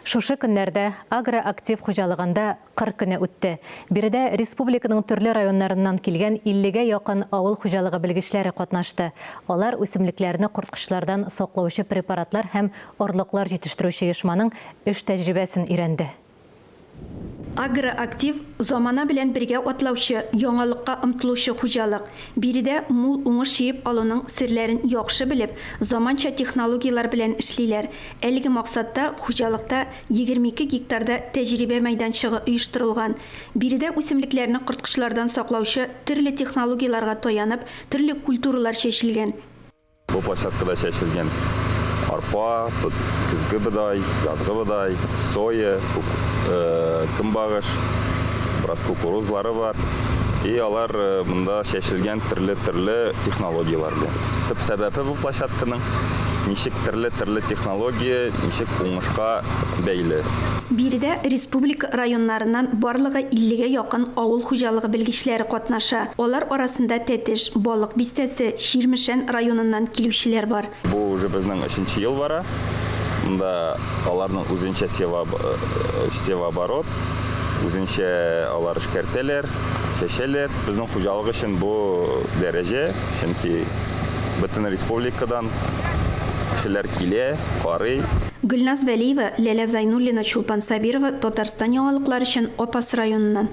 Шушы көннәрдә Агроактив хуҗалыгында Кыр көне үтте. Биредә республиканың төрле районнарыннан килгән 50 гә якын авыл хуҗалыгы белгечләре катнашты. Алар үсемлекләрне корткычлардан саклаучы препаратлар һәм орлыклар җитештерүче оешманың эш тәҗрибәсен өйрәнде. Агроактив, замана белән бергә атлаучы, яңалыкка омтылучы хуҗалык. Биредә мул уңыш җыеп алуның серләрен яхшы белеп, заманча технологияләр белән эшлиләр. Әлеге максатта хуҗалыкта 22 гектарда тәҗрибә мәйданчыгы оештырылган. Биредә үсемлекләрне корткычлардан саклаучы төрле технологияләргә таянып, төрле культуралар чәчелгән. Бу площадкада чәчелгән арпа, көзге бодай, язгы бодай, соя, көнбагыш, бераз кукурузлары бар. И алар монда чәчелгән төрле-төрле технологияләр белән. Төп сәбәбе бу площадканың ничек төрле-төрле технология ничек уңышка бәйле. Биредә республика районнарыннан барлыгы 50 гә якын авыл хуҗалыгы белгечләре катнаша. Алар арасында Тәтеш, Балык Бистәсе, Чирмешән районыннан килүчеләр бар. Бу уже безнең өченче ел бара. Монда аларның үзенчә севооборот, үзенчә алар эшкәртәләр, чәчәләр. Безнең хуҗалык өчен бу дәрәҗә, чөнки бөтен республикадан кешеләр килә, карый. Гөлназ Вәлиева, Ләлә Зайнуллина, Чулпан Сабирова, Татарстан яңалыклары өчен, Апас районыннан.